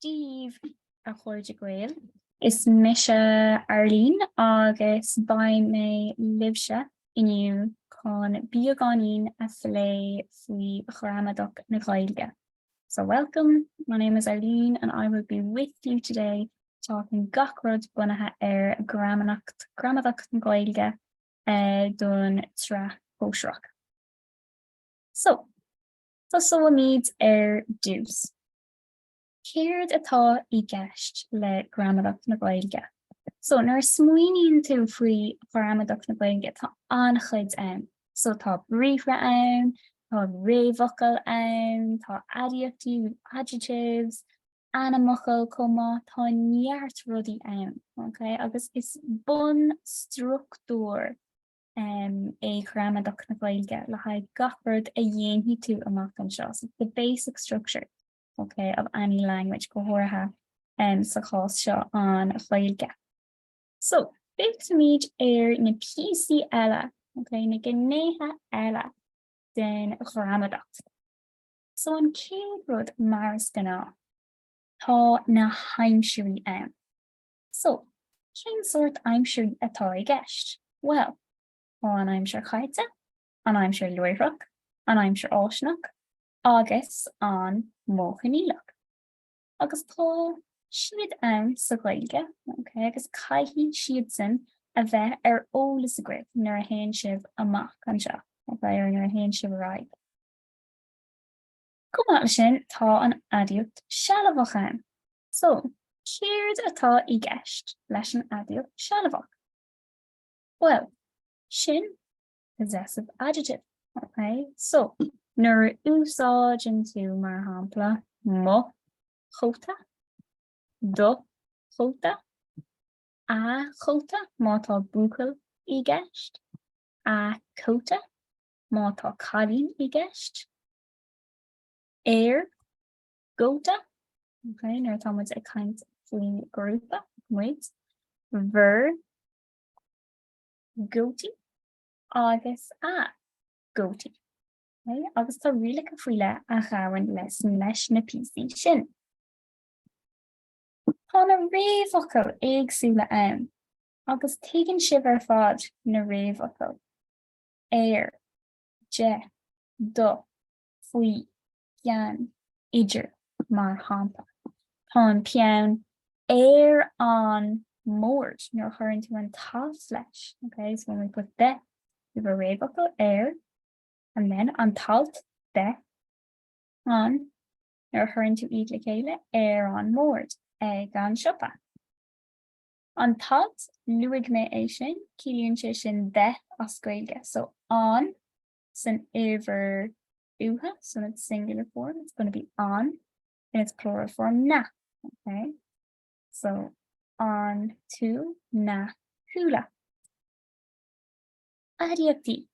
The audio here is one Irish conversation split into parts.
Dia daoibh, a chairde Gael, is mise Arlene agus beidh mé libhse inniu chun beagáinín a phlé faoi ghramadach na Gaeilge. So welcome, my name is Arlene and I will be with you today talking gach rud bunaithe ar ghramadach, gramadach na Gaeilge eh, don tsraith shóisearach. So, tosóimid ar dtús. Céard atá i gceist le gramadach na Gaeilge? So nuair a smaoiníonn tú faoi ghramadach na Gaeilge tá an-chuid ann. So tá briathra ann, tá réamhfhocail ann, tá aidiachtaí, adjectives, ainmfhocail chomh maith, tá neart rudaí ann, okay? agus is bunstruchtúr é gramadach na Gaeilge le haghaidh gach rud a dhéanfaidh tú amach anseo, so the basic structure, ok, of any language, go háirithe sa chás seo an Ghaeilge. So, feicfimid ar na píosaí eile, ok, na gnéithe eile den ghramadach. So an chéad rud mar is gnáth, tá na haimsirí ann. So, cén sórt aimsirí atá i gceist? Bhuel, tá an aimsir chaite, an aimsir láithreach, an aimsir fháistineach agus an modh coinníollach. Agus tá siad ann sa Ghaeilge, ok, agus caithfidh siadsan a bheith ar eolas agaibh nuair a théann sibh amach anseo, ok, or nuair a théann sibh ar aghaidh. Chomh maith leis sin, tá an aidiacht sealbhach ann. So, céard atá i gceist leis an aidiacht sealbhach? Bhuel, sin possessive adjective, okay? So, nuair a úsáideann tú mar shampla mo chóta, do chóta, a chóta má tá buachaill i gceist, a cóta má tá cailín i gceist, ár gcóta, ok, nuair atá muid ag caint faoin grúpa, muid, bhur gcótaí, agus a gcótaí. Okay? Agus tá rialacha faoi leith a ghabhann leis, leis na píosaí sin. Tá na réamhfhocail éagsúla ann, agus tuigeann sibh ar fad na réamhfhocail, ar, de, do, faoi, ceann idir, mar shampla. Tá an peann ar an mbord nuair a chuireann tú an t-alt leis. Okay, so when we put the, we have a réamhfhocal ar, and then an t-alt the, an, nuair a chuireann tú iad le chéile, ar an mbord, ag an siopa. An t-alt, luaigh mé é sin, ciallaíonn sé sin the as Gaeilge. So an san uimhir uatha, so in its singular form, it's going to be an, in its plural form, na, okay? So, an to na, okay. Aidiachtaí.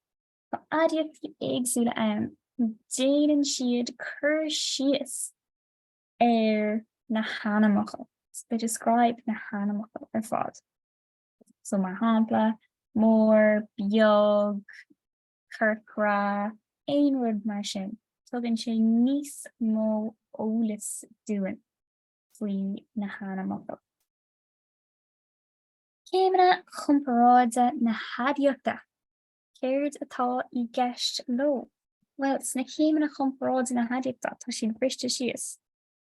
Tá aidiachtaí éagsúla ann. Déanann siad cur síos ar na hainmfhocail. So they describe na hainmfhocail ar fad. So mar shampla, mór, beag, corcra, aon rud mar sin. Tugann sé níos mó eolais dúinn faoi na hainmfhocail. Céimeanna comparáide na haidiachta, céard atá i gceist leo? Bhuel, sna céimeanna comparáide na haidiachta, tá siad briste síos.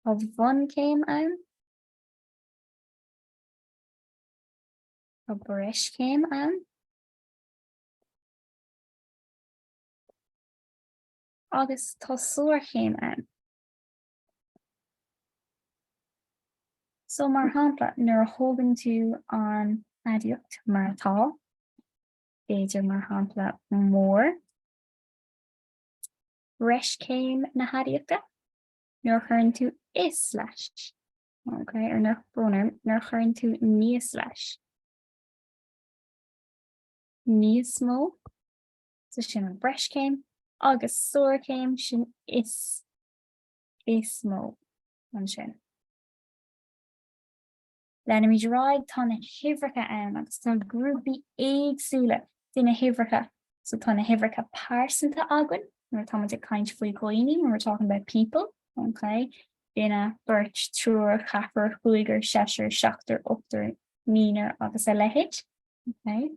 Tá bunchéim ann, tá breischéim ann, Agus tá sárchéim ann. So, mar shampla, nuair a thógann tú an aidiacht mar atá, b'fhéidir, mar shampla, mór, breischéim na haidiachta, nuair a chuireann tú is leis, ok, ar, tá brón orm, nuair a chuireann tú níos leis. níos mó, so sin an breischéim, agus sárchéim, sin is, is mó, ansin. Leanfaimid ar aghaidh, tá na huimhreacha ann agus tá grúpaí éagsúla de na huimhreacha, so tá na huimhreacha pearsanta againn, nuair atá muid ag caint faoi dhaoine, when we're talking about people, okay? duine, beirt, triúr, ceathrar, cúigear, seisear, seachtar, ochtar, naonar agus a leithéid. Okay.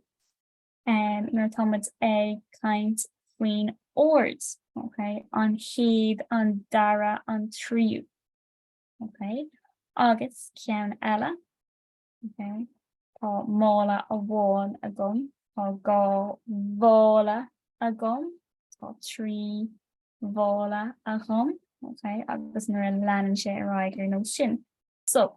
Um, nuair atá muid ag caint faoin ord, okay, an chéad, an dara, an tríú. Okay. Agus ceann eile, okay, tá mála amháin agam, tá dhá mhála agam, tá trí mhála agam, okay, agus nuair a leanann sé ar aghaidh ar nós sin. So,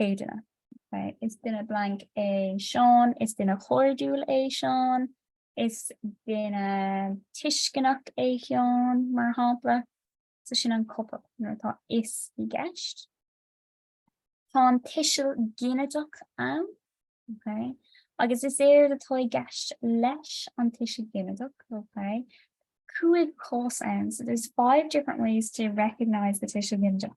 céadna. Is duine blank é Seán, is duine chairdiúil é Seán, is duine tuisceanach é Seán, mar shampla. So sin an copail nuair atá is i gceist. Tá an tuiseal ginideach ann, okay? agus is éard atá i gceist leis an tuiseal ginideach, okay? Cúig chás ann, so there's five different ways to recognise the tuiseal ginideach.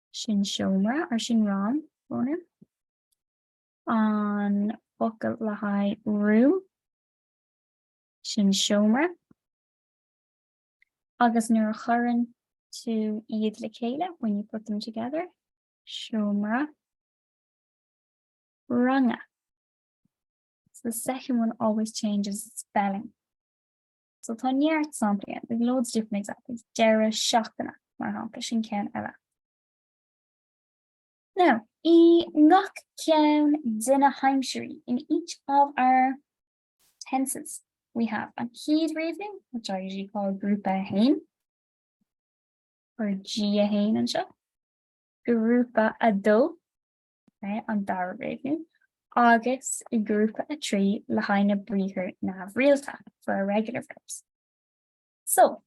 sin seomra or sin rang, an focal le haghaidh room sin seomra agus nuair a chuireann tú iad le chéile when you put them together seomra ranga so the second one always changes its spelling So tá neart samplaí ann, we've loads of different examples, deireadh seachtaine, mar shampla, sin ceann eile. Now, i ngach ceann de na haimsirí, in each of our tenses, we have an chéad réimniú, which I usually call grúpa 1, or G1 anseo, grúpa 2, an dara réimniú, agus i ngrúpa 3 le haghaidh na briathar neamhrialta, for irregular verbs. So,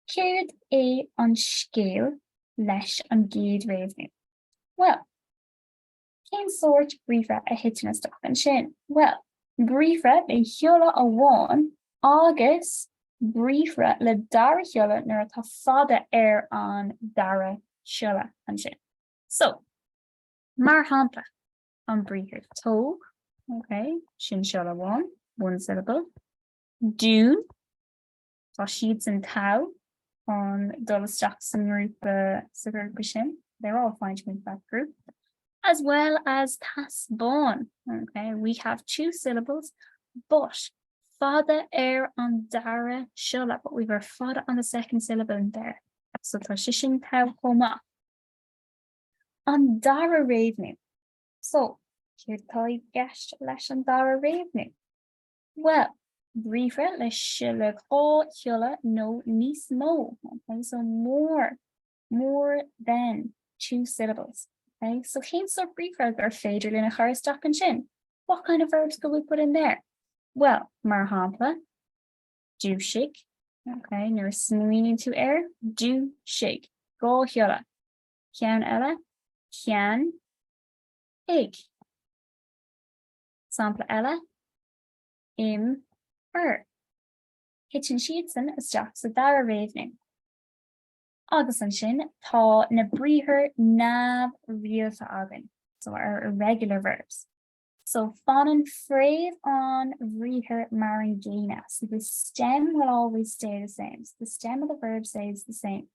céard é an scéal leis an gcéad réimniú? Well, cén sórt briathra a thiteann isteach ansin? Well, briathra le shiolla amháin agus briathra le dara shiolla nuair atá fada ar an dara siolla ansin. So, Mar shampla, an briathar tóg, ok, sin siolla amháin, one syllable, dún, tá siadsan togha chun dul isteach sa ngrúpa sa ghrúpa sin, they're all fine to go into that group, as well as taispeáin, ok, we have two syllables, but, fada ar an dara siolla, but we've our fada on the second syllable in there, so tá sé sin togha chomh maith. An dara réimniú. So, céard atá i gceist leis an dara réimniú? Bhuel, briathra le siolla dhá shiolla nó níos mó, okay? so more, more than two syllables. Okay? So cén sórt briathra ar féidir linn a chur isteach ansin? What kind of verbs could we put in there? Well, mar shampla, dúisigh, okay? nuair a smaoiníonn tú air, dúisigh, dhá shiolla. ceann eile, ceann, ag. Sampla eile, im, ar. Titeann siadsan isteach sa dara réimniú. Agus ansin tá na briathair neamhrialta againn, so our irregular verbs. So fanann fréamh an bhriathair mar an gcéanna, so the stem will always stay the same, so the stem of the verb stays the same.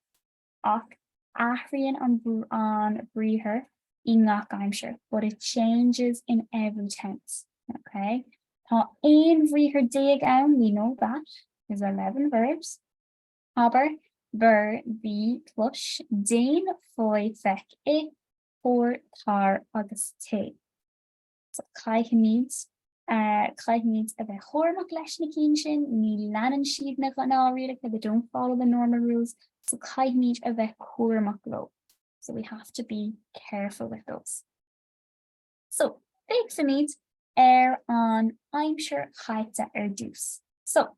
ach athraíonn an briathar i ngach aimsir, but it changes in every tense, ok? Tá 11 bhriathar ann, we know that, there's 11 verbs. Abair, beir, bí, clois, déan, faigh, feic, ith, tabhair, tar agus téigh. Caithfimid caithfimid a bheith cúramach leis na cinn sin, ní leanann siad na gnáthrialacha, they don't follow the normal rules, so caithfimid a bheith cúramach leo, so we have to be careful with those. So, féachfaimid ar an aimsir chaite ar dtús. So,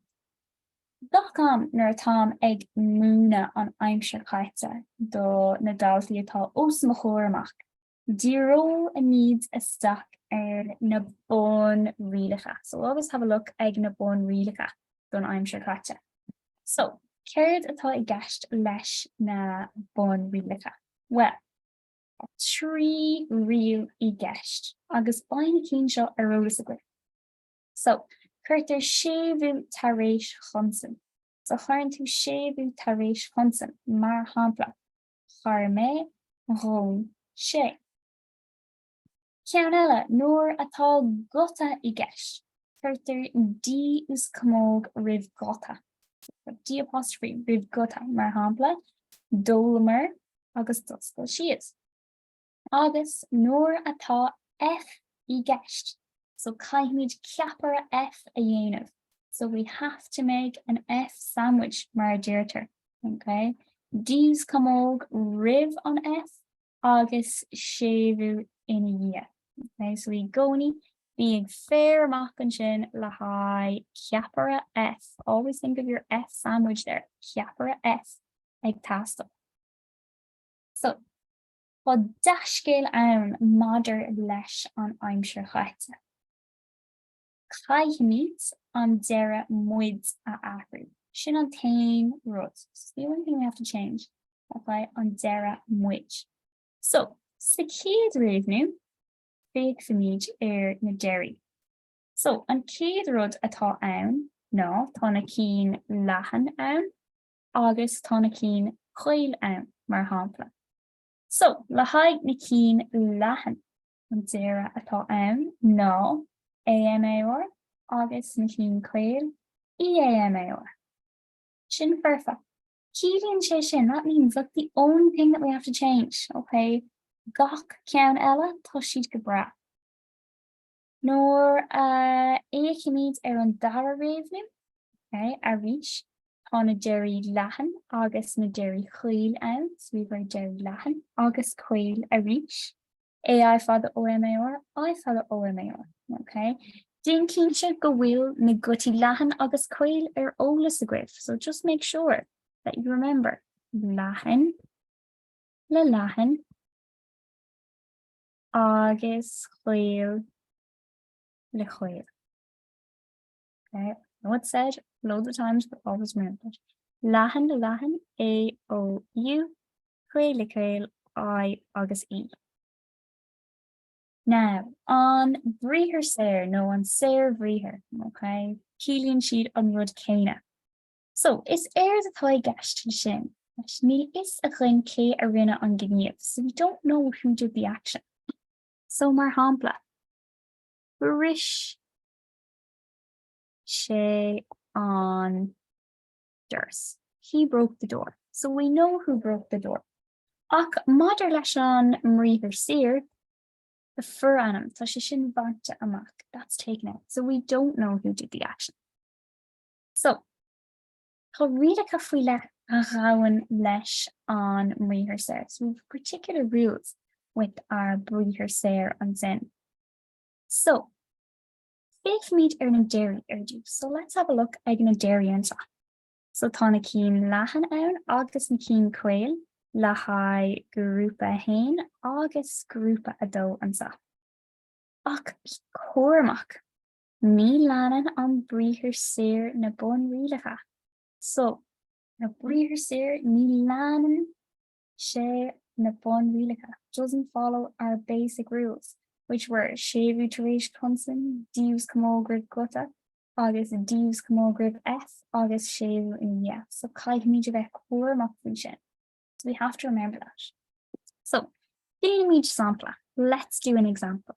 gach am nuair atáim ag múineadh an aimsir chaite do na daltaí atá os mo chomhair amach, Díreoimid isteach ar na bunrialacha. So we'll always have a look ag na bunrialacha don aimsir chaite. So, céard atá i gceist leis na bunrialacha? Well, tá trí riail i gceist agus beidh na cinn seo ar eolas agaibh. So, cuirtear séimhiú tar éis chonsain. So cuireann tú séimhiú tar éis chonsain, mar shampla, chuir mé, dhún sé. Ceann eile, nuair atá guta i gceist, cuirtear D is camóg roimh ghuta, D apostrophe roimh guta, mar shampla, d'ólamar agus d'oscail siad. Agus nuair atá F i gceist, so caithfimid ceapaire F a dhéanamh, so we have to make an F sandwich mar a deirtear, ok? D is camóg roimh an F agus séimhiú ina dhiaidh, ok? So i gcónaí, bí ag faire amach ansin le haghaidh ceapaire F, always think of your F sandwich there, ceapaire F ag teastáil. So. Tá dea-scéal ann maidir leis an aimsir chaite. Caithfimid an deireadh muid a athrú. Sin an t-aon rud. It's the only thing we have to change. Ok, an deireadh muid. So, sa chéad réimniú, féachfaimid ar na deirí. So, an chéad rud atá ann ná tá na cinn leathan ann. agus tá na cinn caol ann, mar shampla. So, le haghaidh na cinn leathan, an deireadh atá ann ná AMAR agus na cinn caol EAMAR. Sin foirfe. Ciallaíonn sé sin, that means that's the only thing that we have to change, okay, gach ceann eile, tá siad go breá. Nuair a fhéachaimid ar an dara réimniú, arís, tá na deirí leathan agus na deirí caol ann, so we've our deirí leathan agus caol arís, AI fada OMAR, I fada OMAR, okay? Déan cinnte go bhfuil na gutaí leathan agus caol ar eolas agaibh, so just make sure that you remember leathan le leathan agus caol le caol. I know it's said loads of times but always remember it, leathan le leathan, A, O, U, caol le caol, I agus E. Now, an briathar saor nó an saorbhriathar, ok, ciallaíonn siad an rud céanna. So, is éard atá i gceist ansin, leis, níl a fhios againn cé a rinne an gníomh, so we don't know who did the action. So, mar shampla, bhris sé an doras. He broke the door. So we know who broke the door. Ach maidir leis an mbriathar saor, the forainm, tá sé sin bainte amach. That's taken out. So we don't know who did the action. So, tá rialacha faoi leith a ghabhann leis an mbriathar saor, so we have particular rules with our briathar saor ansin. So, féachfaimid ar na deirí ar dtús, so let's have a look ag na deirí anseo. So tá na cinn leathan ann agus na cinn caol le haghaidh grúpa 1 agus grúpa 2 anseo. Ach bí cúramach, Ní leanann an briathar saor na bunrialacha so. na briathar saor ní leanann sé na bunrialacha doesn't follow our basic rules, which were séimhiú tar éis consain, D uaschamóg roimh guta agus D uaschamóg roimh F agus séimhiú ina dhiaidh. So caithfimid a bheith cúramach faoi sin. So we have to remember that. So déanaimid sampla. Let's do an example.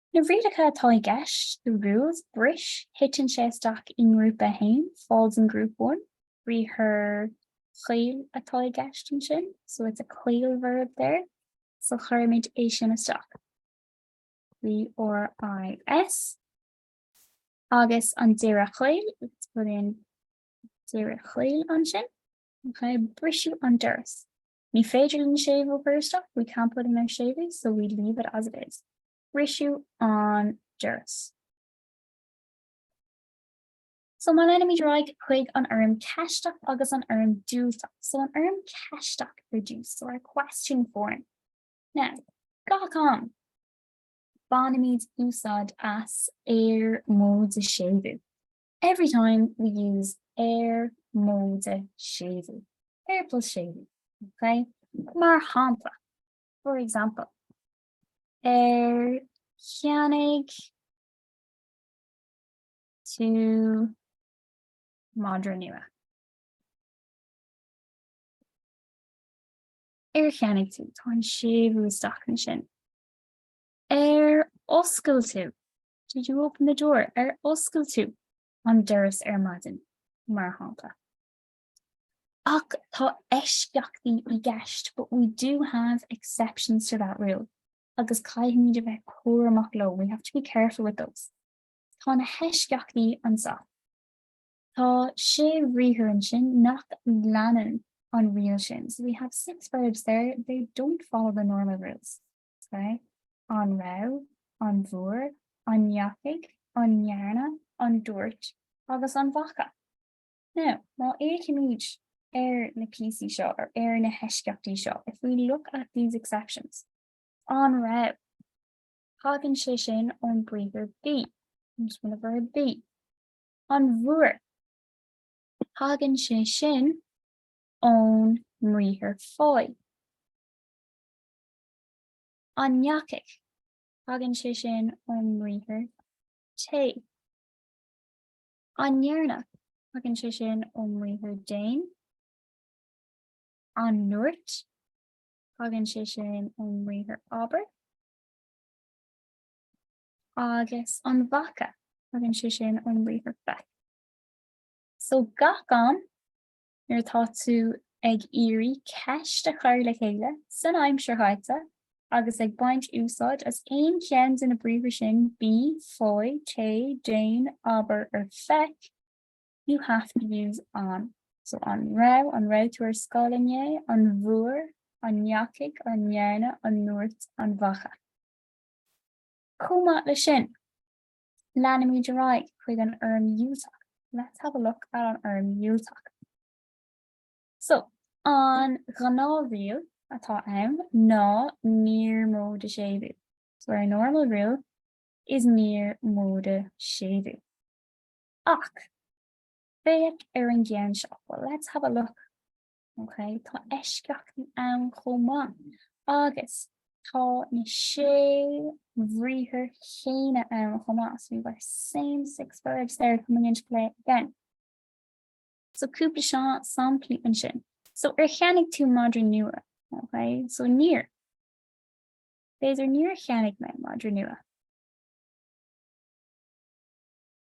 Na rialacha atá i gceist, the rules, bris, titeann sé isteach i ngrúpa a haon, falls in group one, briathar caol atá i gceist ansin, so it's a caol verb there, so cuirimid é sin isteach. B R I S, agus an deireadh caol, let's put in deireadh caol ansin, okay, briseadh an doras. Ní féidir linn séimhiú a chur isteach, we can't put in our séimhiú, so we leave it as it is. Briseadh an doras. So má leanaimid ar aghaidh chuig an fhoirm ceisteach agus an fhoirm diúltach, so an fhoirm ceisteach, reduce, so our question form. Now, gach am, bainimid úsáid as ar móide séimhiú. Every time we use ar, móide séimhiú, ar plus séimhiú, okay? Mar shampla, for example, ar cheannaigh tú madra nua. Ar cheannaigh tú tá an séimhiú isteach ansin. Ar oscail tú Did you open the door? Ar oscail tú an doras ar maidin, mar shampla. Ach tá eisceachtaí i gceist, but we do have exceptions to that rule, agus caithfimid a bheith cúramach leo, we have to be careful with those. Tá na heisceachtaí anseo. Tá sé bhriathar ansin nach leanann an riail sin, so we have six verbs there, they don't follow the normal rules. Okay. An raibh? An bhfuair? An ndeachaigh? An ndearna? An ndúirt? Agus an bhfaca? Now, má fhéachaimid ar na píosaí seo, or ar na heisceachtaí seo, if we look at these exceptions, an raibh? Tagann sé sin ón briathar bí, comes from the verb bí. An bhfuair? Tagann sé sin ón mbriathar faigh. An ndeachaigh? Tagann sé sin ón mbriathar téigh. An ndearna? Tagann sé sin ón mbriathar déan. An ndúirt? Tagann sé sin ón mbriathar abair. Agus an bhfaca? Tagann sé sin ón mbriathar feic. So gach am nuair atá tú ag iarraidh ceist a chur le chéile san aimsir chaite agus ag baint úsáid as aon cheann de na briathra sin, bí, faigh, téigh, déan, abair, or feic, you have to use an. So an raibh, an raibh tú ar scoil inné, an bhfuair, an ndeachaigh, an ndearna, an ndúirt, an bhfaca. Chomh maith le sin, Leanfaimid ar aghaidh chuig an fhoirm dhiúltach. Let's have a look at an fhoirm dhiúltach. So, an ghnáthriail atá ann ná níor móide séimhiú. So our normal rule is níor móide séimhiú. Ach, féach ar an gceann seo. Well, let's have a look Ok, tá eisceachtaí ann chomh maith agus tá na sé bhriathar chéanna ann chomh maith, so we've our same six verbs there coming into play again. So cúpla seo samplaí ansin. So ar cheannaigh tú madra nua? Ok, so níor. These are níor cheannaigh mé madra nua.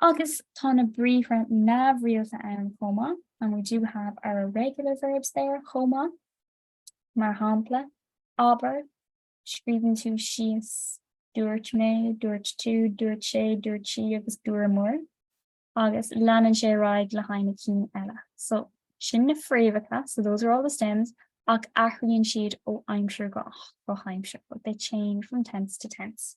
Agus tá na briathra neamhrialta ann chomh maith, and we do have our irregular verbs there chomh maith, mar shampla, abair, scríobhann tú síos, dúirt mé, dúirt tú, dúirt sé, dúirt sí agus dúramar, agus leanann sé ar aghaidh le haghaidh na cinn eile. So, sin na fréamhacha, so those are all the stems, ach athraíonn siad ó aimsir go aimsir, but they change from tense to tense.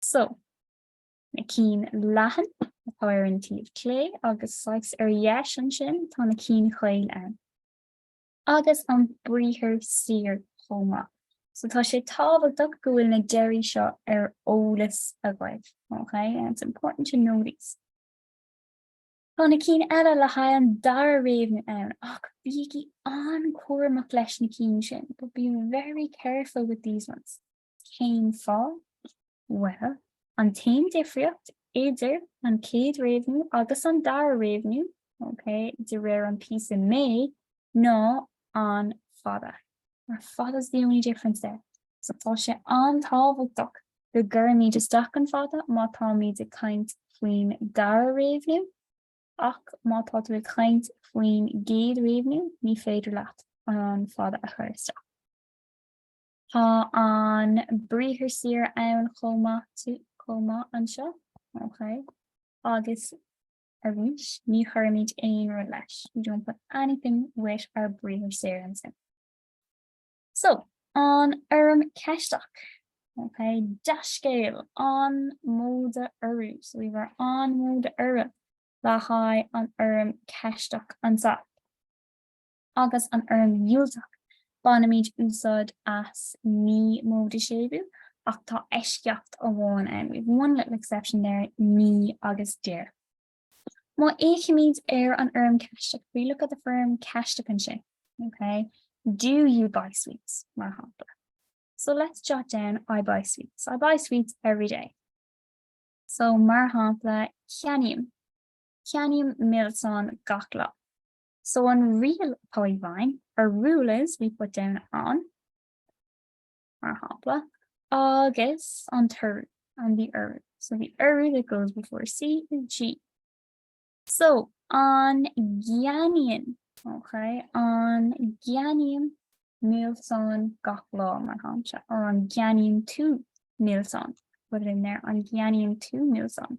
So, na cinn leathan atá ar an taobh clé agus saghas ar dheis ansin tá na cinn chaol ann. Agus an briathar saor chomh maith. So tá sé tábhachtach go bhfuil na deirí seo ar eolas agaibh, ok, and it's important to know these. Tá na cinn eile le haghaidh an dara réimniú ann ach bígí an-chúramach leis na cinn sin, but be very careful with these ones. Cén fáth? Bhuel, an t-aon difríocht idir an chéad réimniú agus an dara réimniú, okay, de réir an píosa mé, ná an fada. Our fada's the only difference there. So tá sé an-tábhachtach go gcuirimid isteach an fada má táimid ag caint faoin dara réimniú, ach má tá tú ag caint faoin gcéad réimniú, ní féidir leat an fada a chur isteach. Tá an briathar saor ann chomh maith, chomh maith anseo. Ok. Agus arís, ní chuirimid aon rud leis, we don't put anything with our briathar saor ansin. So, an fhoirm ceisteach. Ok, dea-scéal, an móide urú, so we've our an móide urú le haghaidh an fhoirm ceisteach anseo. agus an fhoirm dhiúltach, bainimid úsáid as ní móide séimhiú, ach tá eisceacht amháin ann, we have one little exception there, ní agus deir. Má fhéachaimid ar an fhoirm Cheisteach, if we look at the foirm Cheisteach ansin, okay, do you buy sweets? mar shampla. So let's jot down I buy sweets. I buy sweets every day. So mar shampla, ceannaím, ceannaím milseáin gach lá. So an riail atá i bhfeidhm, our rule is we put down an, mar shampla, agus an t-urú, and the urú. So the urú that goes before C is G. So an gceannaíonn, ok, an gceannaím milseáin gach lá, mar shampla, or an gceannaíonn tú milseáin, put it in there, an gceannaíonn tú Neilson.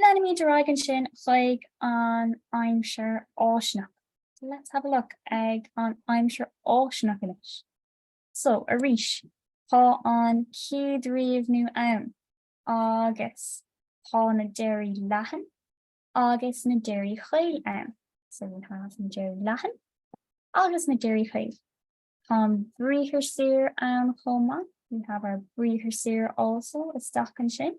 Leanfaimid ar aghaidh ansin chuig an aimsir fháistineach. Let's have a look ag an aimsir fháistineach anois. So, arís, tá an chéad réimniú ann agus tá na deirí leathan agus na deirí chaol ann. So we have na deirí leathan agus na deirí chaol. Tá an briathar saor ann chomh maith. We have our briathar saor also isteach ansin.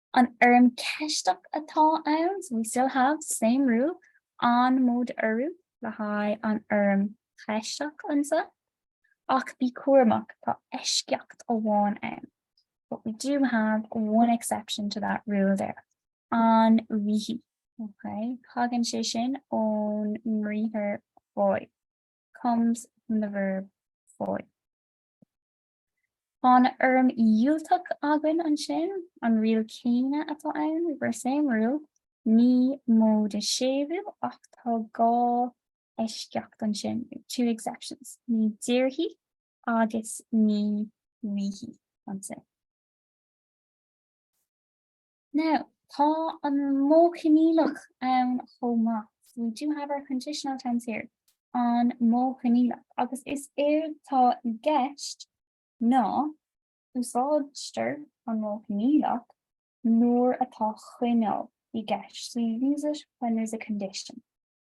An fhoirm ceisteach atá ann, so we still have the same rule, an móide urú le haghaidh an fhoirm cheisteach anseo, ach bí cúramach, tá eisceacht amháin ann, but we do have one exception to that rule there, an bhfaighidh. Ok, tagann sé sin ón mbriathar faigh, comes from the verb faigh. Tá an fhoirm dhiúltach againn ansin, an riail chéanna atá ann, we've our same rule, ní móide séimhiú, ach tá dhá eisceacht ansin, two exceptions, ní déarfaidh agus ní bhfaighidh ansin. Now, tá an modh coinníollach ann chomh maith. So we do have our conditional tense here. An modh coinníollach. Agus is éard tá i gceist ná úsáidtear an modh coinníollach nuair atá coinníoll i gceist. So you use it when there's a condition.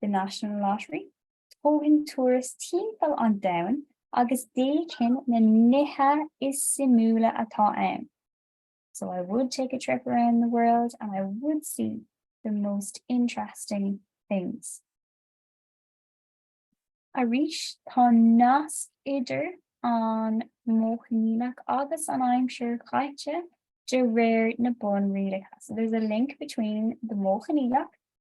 the National Lottery, thógfainn turas timpeall an domhan agus d'fheicfinn na nithe is suimiúla atá ann. So I would take a trip around the world and I would see the most interesting things. Arís tá nasc idir an Modh Coinníollach agus an aimsir chaite de réir na bunrialacha. So there's a link between the Modh Coinníollach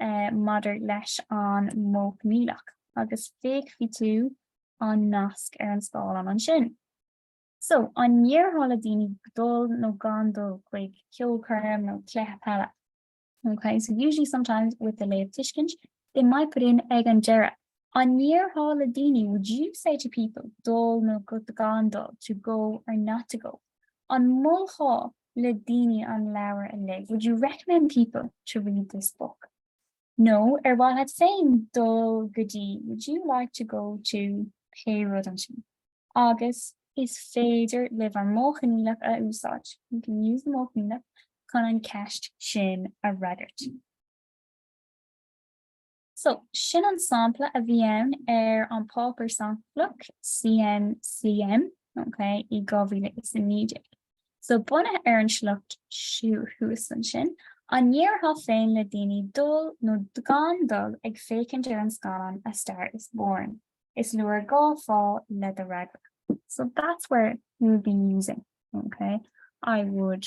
maidir leis an Modh Coinníollach, agus feicfidh tú an nasc ar an scáileán ansin. So, an ndéarfá le daoine dul nó gan dul chuig ceolchoirm nó cluiche peile? Ok, so usually sometimes with the léamhthuiscint, they might put in ag an deireadh. An ndéarfá le daoine would you say to people dul nó gan dul, to go or not to go? An molfá le daoine an leabhar a léamh? Would you recommend people to read this book? Nó ar mhaith leat féin dul go dtí? Would you like to go to pé rud ansin? Agus is féidir libh an Modh Coinníollach a úsáid, you can use the Modh Coinníollach, chun an cheist sin a fhreagairt. So, sin an sampla a bhí ann ar an bpáipéar samplach CNCM, ok, i 2019. So, bunaithe ar an sliocht thuas ansin, an ndéarfá féin le daoine dul nó gan dul ag féachaint ar an scannán A Star is Born? Is leor dhá fháth le do fhreagra. So, that's where you would be using, ok, I would.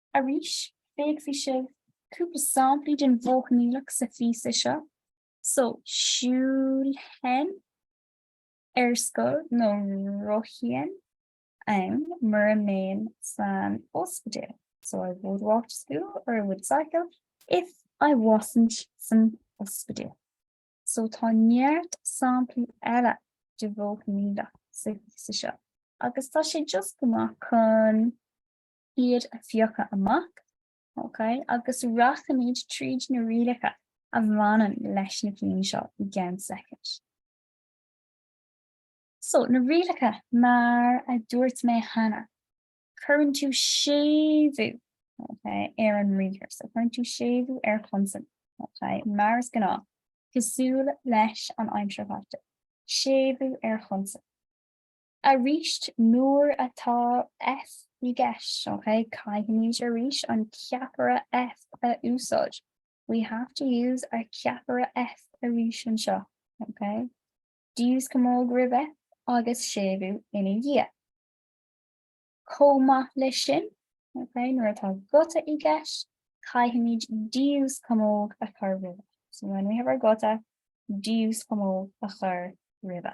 Arís, feicfidh sibh cúpla samplaí den Mhodh Coinníollach sa phíosa seo, so siúlfainn ar scoil nó rothóinn ann mura mbeinn san ospidéal, so I would walk to school or I would cycle if I wasn't san ospidéal. So tá neart samplaí eile den Mhodh Coinníollach sa phíosa seo agus tá sé just go maith chun iad a phiocadh amach, okay, agus rachaimid tríd na rialacha a bhaineann leis na cinn seo i gceann soicind. So, na rialacha, mar a dúirt mé cheana, cuireann tú séimhiú okay, ar an mbriathar, so cuireann tú séimhiú ar chonsan, okay, mar is gnáth, cosúil leis an aimsir chaite, séimhiú ar chonsan. Arís, nuair atá F i gceist, ok, caithfimid arís an ceapaire F a úsáid, we have to use our ceapaire F arís anseo, ok? D uaschamóg roimhe agus séimhiú ina dhiaidh. Chomh maith leis sin, ok, nuair atá guta i gceist, caithfimid D uaschamóg a chur roimhe. So when we have our guta, D uaschamóg a chur roimhe.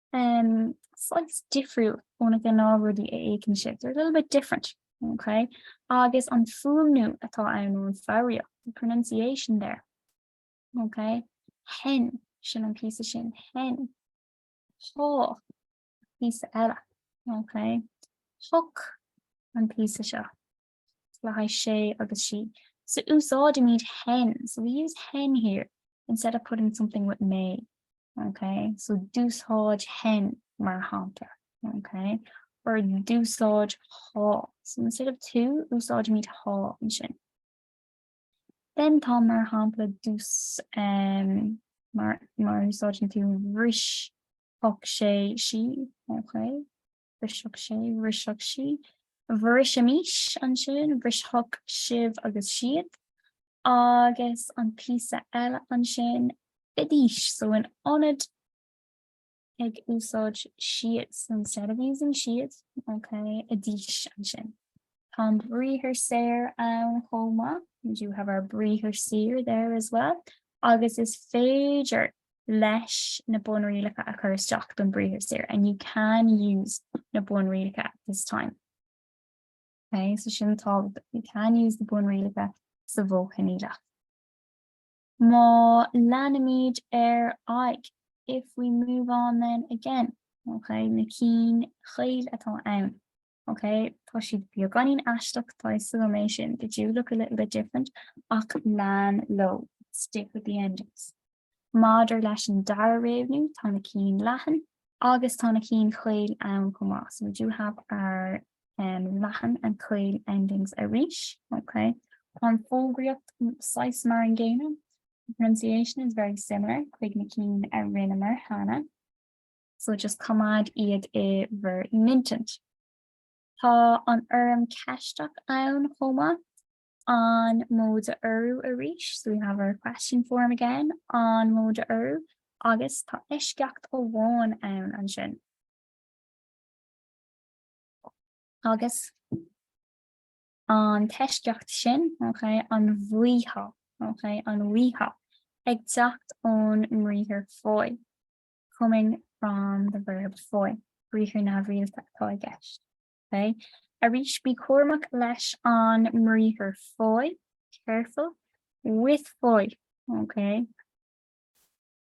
saghas difriúil ó na gnáthrudaí a fheiceann sibh, they're a little bit different, okay? agus an fuaimniú atá ann nó an foghraíocht, the pronunciation there, okay? hen, sin an píosa sin, hen, há, píosa eile, okay? hoc, an píosa seo. le haghaidh sé agus sí, so úsáidimid hen, so we use hen here instead of putting something with mé, ok, so d'úsáidfinn mar shampla, ok, or d'úsáidfeá, so instead of tú, úsáidimid há ansin. Then tá mar shampla d'ús, um, mar, mar úsáideann tú bhrisfeadh sé, sí, ok, Bhrisfeadh sé, bhrisfeadh sí, bhrisfimis ansin, bhrisfeadh sibh agus siad, agus an píosa eile ansin, fidís, so in ionad ag úsáid siad, so instead of using siad, ok, idís ansin. Tá an briathar saor ann chomh maith, we do have our briathar saor there as well, agus is féidir leis na bunrialacha a chur isteach don briathar saor, and you can use na bunrialacha at this time. Ok, so sin, tá, you can use na bunrialacha sa mhodh choinníollach. Má leanaimid ar aghaidh, if we move on then again, ok, na cinn chaol atá ann. Ok, tá siad beagáinín aisteach, tá a fhios agam é sin, they do look a little bit different, ach lean leo, stick with the endings. Maidir leis an dara réimniú, tá na cinn leathan agus tá na cinn chaol ann chomh maith, so we do have our um, leathan and chaol endings arís. Ok, tá an fhoghraíocht saghas mar an gcéanna, the pronunciation is very similar chuig na cinn a rinneamar cheana. so just coimeád iad i bhur n-intinn. Tá an fhoirm ceisteach ann chomh maith, an móide urú arís, so we have our question form again, an móide urú, agus tá eisceacht amháin ann ansin. Agus an t-eisceacht sin, ok, an bhfaighfeá, ok, an bhfaighfeá ag teacht ón mbriathar faigh. coming from the verb faigh, briathar neamhrialta atá i gceist. Okay. Arís, bí cúramach leis an mbriathar faigh, careful with faigh. Okay.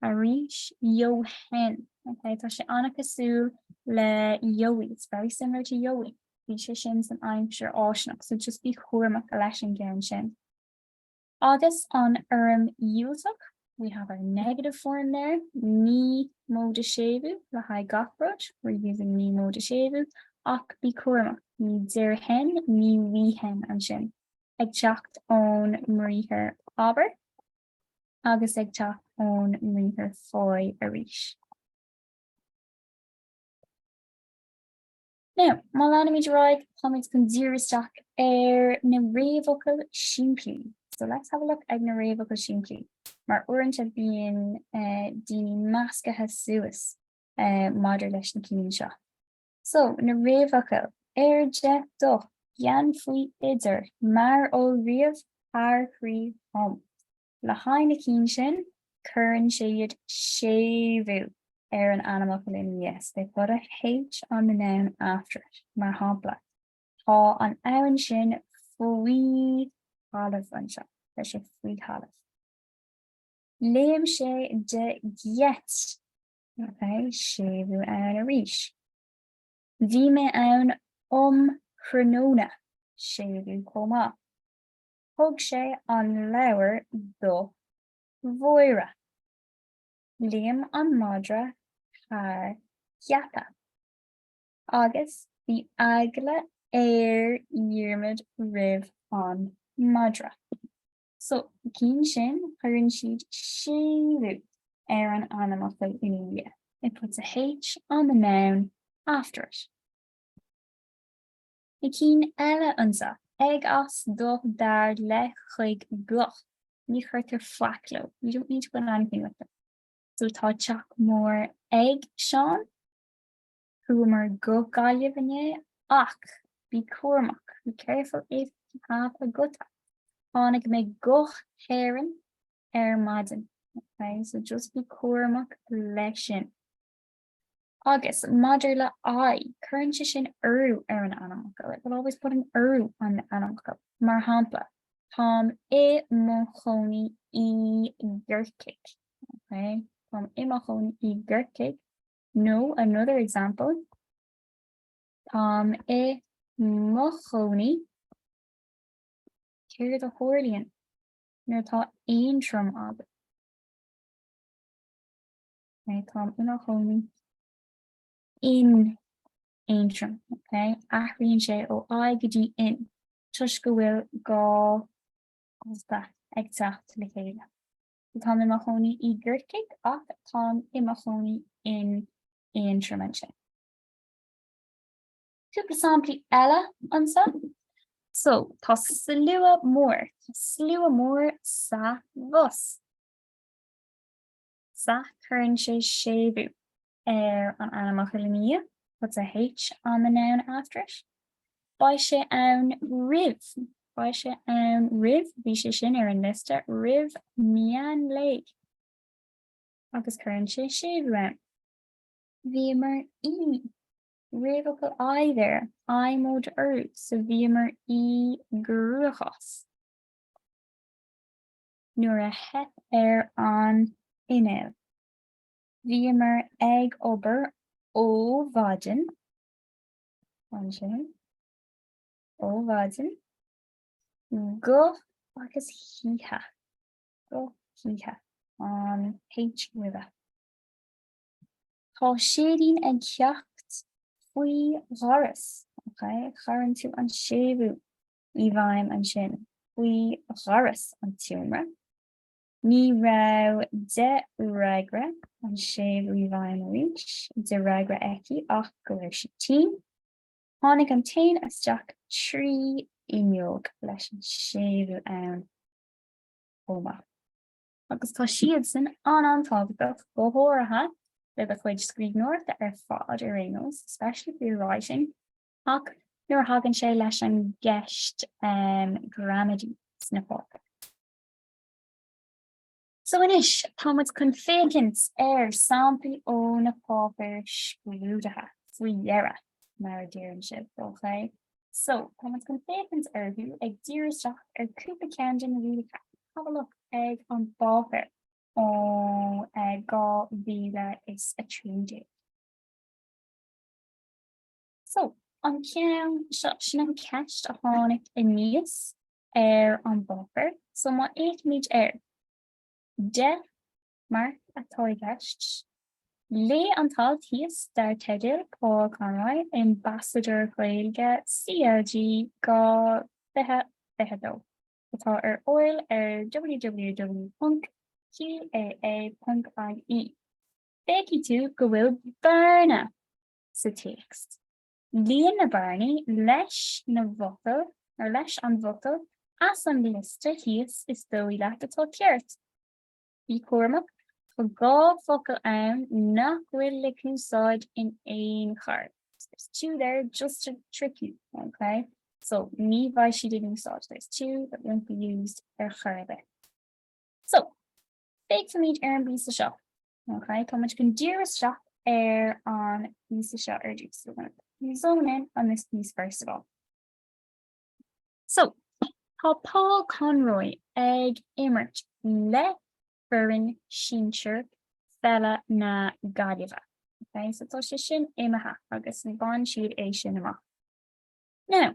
Arís, gheobhainn. Okay. Tá sé an-cosúil le gheobhaidh, it's very similar to gheobhaidh. Bhí sé sin san aimsir fháistineach, so just bí cúramach leis an gceann sin. Agus an fhoirm dhiúltach, we have our negative form there, ní móide séimhiú le haghaidh gach rud, we're using ní móide séimhiú, ach bí cúramach, ní déarfainn, ní bhfaighinn ansin, ag teacht ón mbriathar abair agus ag teacht ón mbriathar faigh arís. Now, má leanaimid ar aghaidh, táimid chun díriú isteach ar na réamhfhocail simplí. So let's have a look ag na réamhfhocail simplí. Mar uaireanta bíonn eh, daoine meascaithe suas eh, maidir leis na cinn seo. So, na réamhfhocail, ar, de, do, gan, faoi, idir, mar, ó, roimh, thar, trí, um. Le haghaidh na cinn sin, cuireann siad séimhiú ar an ainmfhocal ina dhiaidh, they put a h on the noun after it. Mar shampla, Tá an abhainn sin faoi thalamh anseo, tá sé faoi thalamh. Léim sé de gheit, okay? séimhiú ann arís. Bhí mé ann um thráthnóna, séimhiú chomh maith. thug sé an leabhar do Mháire. Léim an madra thar gheata, agus bhí eagla ar Dhiarmaid roimh an madra. So cinn sin, cuireann siad séimhiú ar an ainmfhocal ina dhiaidh, it puts a h on the noun after it. na cinn eile anseo ag as do dar le chuig go, ní chuirtear faic leo, we don't need to put anything with them. So tá teach mór ag Seán, chuamar go Gaillimh inné ach bí cúramach, be careful if you have a guta, tháinig mé go hÉirinn ar maidin, okay, so just bí cúramach leis sin. Agus maidir le I, cuireann sé sin urú ar an ainmfhocal, it will always put an urú on the ainmfhocal. Mar shampla, Táim i mo chónaí i gCorcaigh. Okay? Táim i mo chónaí i gCorcaigh. Nó, another example. Táim i mo chónaí. Céard a tharlaíonn nuair atá Aontroim agat? Okay, táim i mo chónaí in Aontroim. Okay, athraíonn sé ó I go dtí in toisc go bhfuil dhá ghuta ag teacht le chéile. So táim i mo chónaí i gCorcaigh ach táim i mo chónaí in Aontroim ansin. Cúpla samplaí eile anseo. So tá slua mór, slua mór sa bhus. Sa cuireann sé séimhiú ar an ainmfhocal ina dhiaidh, puts a H on the noun after it. Beidh sé ann roimh, beidh sé ann roimh, bhí sé sin ar an liosta, roimh meán lae. Agus cuireann sé séimhiú ann. Bhíomar i, réamhfhocal I there, I móide urú, so bhíomar i gcruachás. nuair a theip ar an inneall. Bhíomar ag obair ó mhaidin, ansin, ó mhaidin, go, agus hoíche, go hoíche, an h roimhe. Tá séideán ag teacht faoi dhoras, okay? Cuireann tú an séimhiú i bhfeidhm ansin faoi dhoras an tseomra. Ní raibh de fhreagra an séimhiú i bhfeidhm arís, de fhreagra aici ach go raibh sí tinn. Tháinig an t-éan isteach trí fhuinneog leis an séimhiú ann chomh maith. agus tá siadsan an-an-tábhachtach, go háirithe le do chuid scríbhneoireachta ar fad ar aon nós, especially for your writing. Ach nuair a thagann sé leis an gceist ghramadaí sna páipéir. So anois, tá muid chun féachaint ar samplaí ó na páipéir scrúdaithe faoi dheireadh, mar a deireann sibh, ok? So, tá muid chun féachaint orthu ag díriú isteach ar chúpla ceann de na rialacha. Have a look ag an bpáipéar ó uh 2013. So, an ceann seo, sin an cheist a tháinig aníos ar an bpáipéar. So, má fhéachaimid air, 10 marc atá i gceist. Léigh an t-alt thíos dar teideal 'Paul Conroy, Ambasadóir Gaeilge CLG 2022', atá ar fáil ar www.gaa.ie. Feicfidh tú go bhfuil bearna sa téacs. Líon na bearnaí leis na bhfocail or leis an bhfocal as an liosta thíos is dóigh leat atá ceart. Bí cúramach, tá dhá focal ann nach bhfuil le húsáid in aon chor, there's two there just to trick you, ok, so ní bheidh siad in úsáid, there's two that won't be used ar chor ar bith. So, féachfaimid ar an bpíosa seo. Ok, tá muid chun díriú isteach ar an bpíosa seo ar dtús so we're going to zone in on this piece first of all. So, tá Paul Conroy ag imirt le foireann sinsir pheile na Gaillimhe. Ok, so tá sé sin imithe agus bhain siad é sin amach. Now,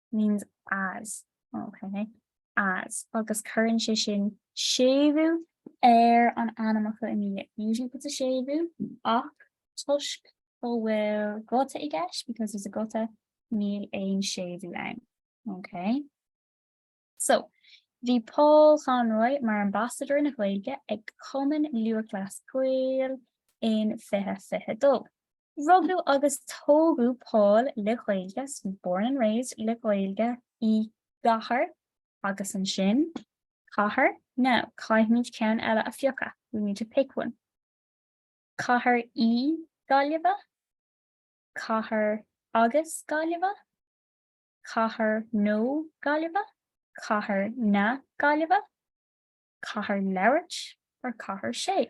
means as, ok, as, agus cuireann sé sin séimhiú ar an ainmfhocal ina dhiaidh, it usually puts a séimhiú ach toisc go bhfuil guta i gceist, because there's a guta, níl aon séimhiú ann, ok. So, bhí Paul Conroy mar Ambasadóir na Gaeilge ag Cumann Lúthchleas Gael in 2022. Rugadh agus tógadh Paul le Gaeilge, born and raised le Gaeilge, i gcathair agus ansin cathair now caithfimid ceann eile a phiocadh we need to pick one cathair i Gaillimhe, cathair agus Gaillimhe, cathair nó Gaillimhe, cathair na Gaillimhe, cathair labhairt or cathair sé.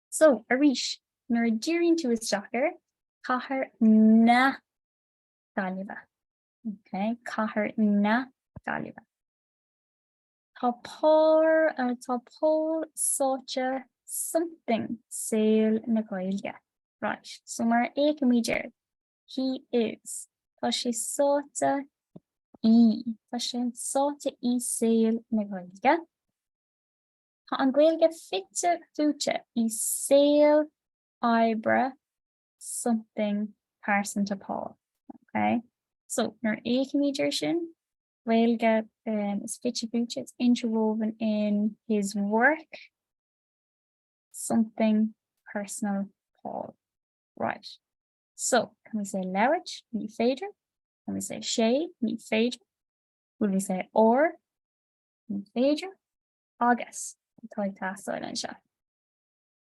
So, arís, nuair a díríonn tú isteach air, cathair na Gaillimhe, ok, cathair na Gaillimhe, tá Paul sáite something saol na Gaeilge, right, so mar a fhéachaimid air, he is, tá sé sáite i, tá sé sáite i saol na Gaeilge. Tá an Ghaeilge fite fuaite i saol oibre something pearsanta Paul. Ok, so nuair a fhéachaimid air sin, Gaeilge um, is fite fuaite, it's interwoven in his work, something personal Paul. Right. So, can we say labhairt, ní féidir? Can we say sé, ní féidir? Will we say or, ní féidir? agus atá ag teastáil anseo.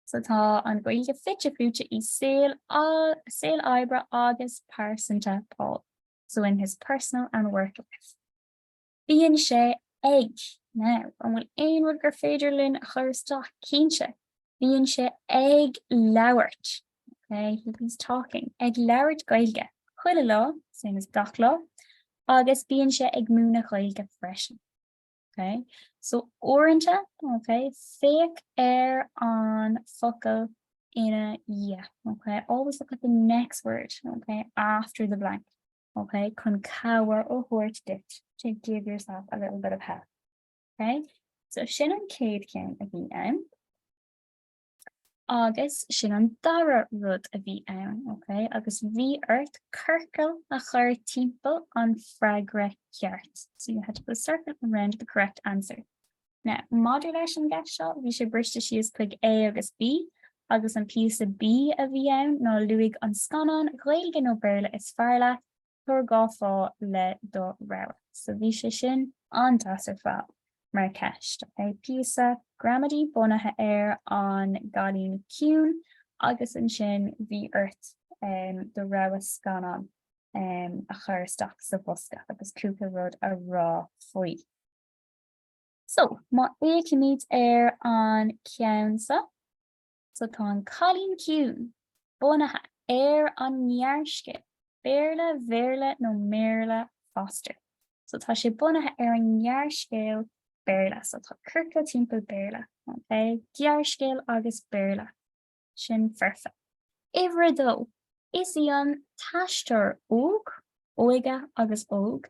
So tá an Ghaeilge fite fuaite i saol saol oibre agus pearsanta Paul, so in his personal and work life. Bíonn sé ag now an bhfuil aon rud gur féidir linn a chur isteach cinnte. Bíonn sé ag labhairt. Okay, he's talking ag labhairt Gaeilge. Chuile lá, same as gach lá, agus bíonn sé ag múineadh Gaeilge freisin. Okay. So uaireanta, okay, féach ar an focal ina dhia. Okay. Always look at the next word, okay, after the blank. Okay, chun cabhair ó thabhairt dit. To give yourself a little bit of help. Okay. So sin an céad chéim a bhí ann. Agus sin an dara rud a bhí ann, ok? Agus bhí ort ciorcal a chur timpeall an freagra ceart. So you had to put a circle around the correct answer. Now, maidir leis an gceist seo, bhí sé briste síos chuig A agus B, agus an píosa B a bhí ann ná luaigh an scannán Gaeilge nó Béarla is fearr leat, Tabhair dhá fháth le do rogha. So bhí sé sin an-deas ar fad mar cheist, ok? Píosa gramadaí bunaithe ar An Cailín Ciúin agus ansin bhí ort do rogha scannán a chur isteach sa bhosca agus cúpla rud a rá faoi. So, má fhéachaimid ar an gceann seo. So tá An Cailín Ciúin bunaithe ar an ngearrscéal, Béarla, Bhéarla nó mBéarla Foster. So tá sé bunaithe ar an ngearrscéal Béarla, so tá ciorcal timpeall Béarla, okay? gearrscéal agus Béarla. Sin foirfe. Uimhir a dó, is í an t-aisteoir óg, óige agus óig,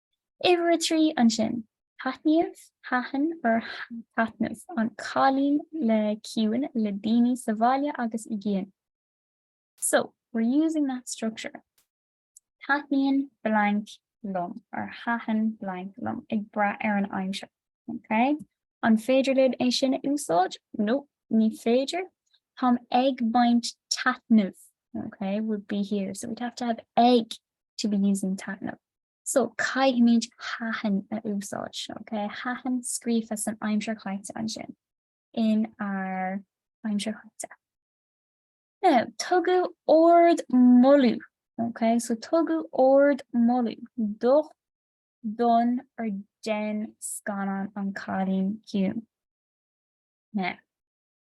Uimhir a trí ansin, taitníodh, thaitin or taitneamh, an cailín le ciúin le daoine sa bhaile agus i gcian. So, we're using that structure. Taitníonn blank liom or thaitin blank liom ag brath ar an aimsir. Okay? An féidir linn é sin a úsáid? No, ní féidir. Táim ag baint taitneamh. Okay, would be here. So we'd have to have ag to be using taitneamh. So, caithfimid thaitin a úsáid, ok? Thaitin scríofa san aimsir chaite ansin, in our aimsir chaite. Now, tugadh ardmholadh, ok? So, tugadh ardmholadh do, don or den scannán an Cailín Ciúin. Now,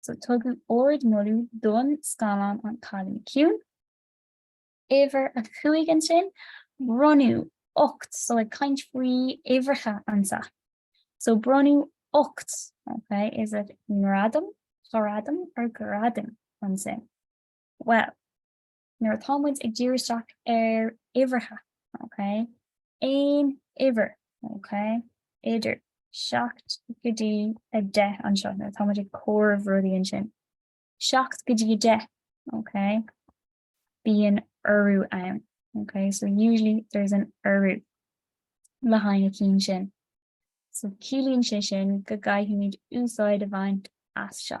So tugadh ard-mholadh don scannán An Cailín Ciúin. Uimhir a Cúig ansin, bronnadh ocht, so ag caint faoi uimhreacha anseo, so bronnadh ocht, ok, is it ngradam, ghradam or gradam ansin? Well, nuair atá muid ag díriú isteach ar uimhreacha, ok, aon uimhir, ok, idir 7 go dtí 10 anseo, nuair atá muid ag comhaireamh rudaíonn sin, 7 go dtí 10, ok, bíonn urú ann, ok, so usually there's an urú le haghaidh na cinn sin. So ciallaíonn sé sin go gcaithfimid úsáid a bhaint as seo.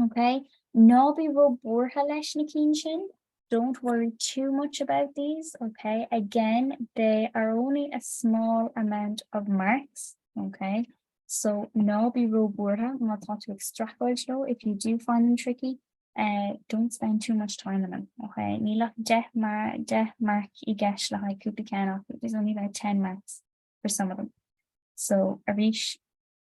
Ok, ná bí ró buartha leis na cinn sin, don't worry too much about these, ok, again, they are only a small amount of marks, ok, so ná bí ró buartha má tá tú ag streachailt leo, if you do find them tricky, eh, don't spend too much time on them, ok, níl ach deich marc i gceist le haghaidh cúpla ceann acu, there's only about ten marks for some of them, so arís,